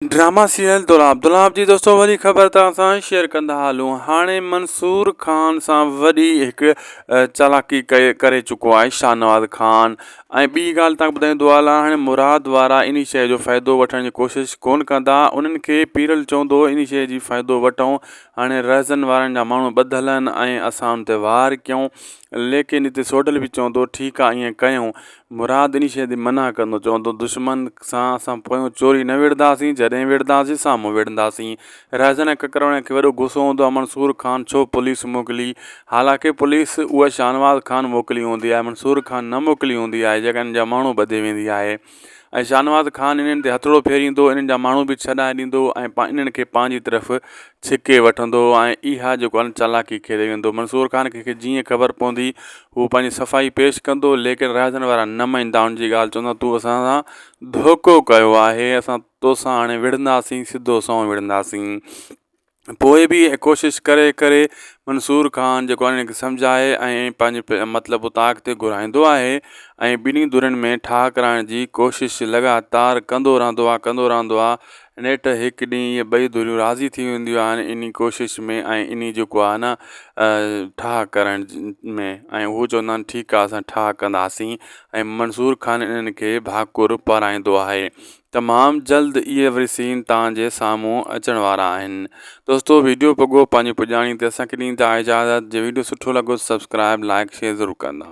drama serial دولاب دولاب جي دوستو وڏي خبر توهان سان شيئر ڪندا هلون هاڻي منصور خان سان وڏي هڪ چالاڪي ڪري چڪو آهي شاهنواز خان ۽ ٻي ڳالهه توهان ٻڌائيون دوالا هاڻي مراد وارا ان شيء جو فائدو وٺڻ جي ڪوشش ڪون ڪندا انهن کي پيرل چوندو ان شيء جي فائدو وٺون هاڻي رهزن وارن جا ماڻهو ٻڌل آهن ۽ اسان ان تي وار ڪيون ليڪن هتي سوڍل به چوندو ٺيڪ آهي ائين ڪيون مراد انهي شيء تي منع ڪندو چوندو دشمن سان اسان پويون چوري نه وڙهنداسين جڏهن وڙهنداسين سامهون وڙهنداسين رهزن ۽ ڪڪروڻين کي وڏو غصو هوندو آهي منصور خان ڇو پوليس موڪلي حالانڪه پوليس اها شاهنواز خان موڪلي هوندي آهي منصور خان نه موڪلي هوندي آهي جيڪا انهن جا ماڻهو ٻڌي ويندي آهي ۽ شاهنواز خان انهن تي هٿڙو ڦيريندو انهن جا ماڻهو به ڇڏائي ڏيندو ۽ انهن کي پنهنجي طرف ڇڪي وٺندو ۽ اها جيڪو آهن چالاڪي کيڏي ويندو منصور خان کي جيئن خبر پوندي هو پنهنجي صفائي پيش ڪندو ليڪن رهاڻين وارا نه مڃيندا ان جي ڳالهه چوندا تون اسان سان ڌوڪو ڪيو آهي اسان توسان هاڻي وڙهنداسين سڌو سنئون وڙهنداسين پوء به ڪوشش ڪري ڪري منصور خان جيڪو انهن کي سمجهائي ۽ پنهنجي مطلب اتان اڳتي گهرائيندو آهي ۽ ٻنهي ڌرين ۾ ٺاهه ڪرائڻ جي ڪوشش لڳاتار ڪندو رهندو آهي ڪندو رهندو آهي نيٺ هڪ ڏينهن اهي ٻئي ڌريون راضي ٿي وينديون آهن انهي ڪوشش ۾ ۽ انهي جيڪو آهي نه ٺاهه ڪرڻ ۾ ۽ هو چوندا آهن ٺيڪ آهي اسان ٺاهه ڪنداسين ۽ منصور خان انهن کي ڀاڪر پارائيندو آهي تمام جلد اهي وري سين تان جي سامهون اچڻ وارا آهن دوستو ويڊيو پڳو پنهنجي پڄاڻي تي اسان کي ڏيندا اجازت جي ويڊيو سٺو لڳو سبسڪرائب لائڪ شيئر ضرور ڪندا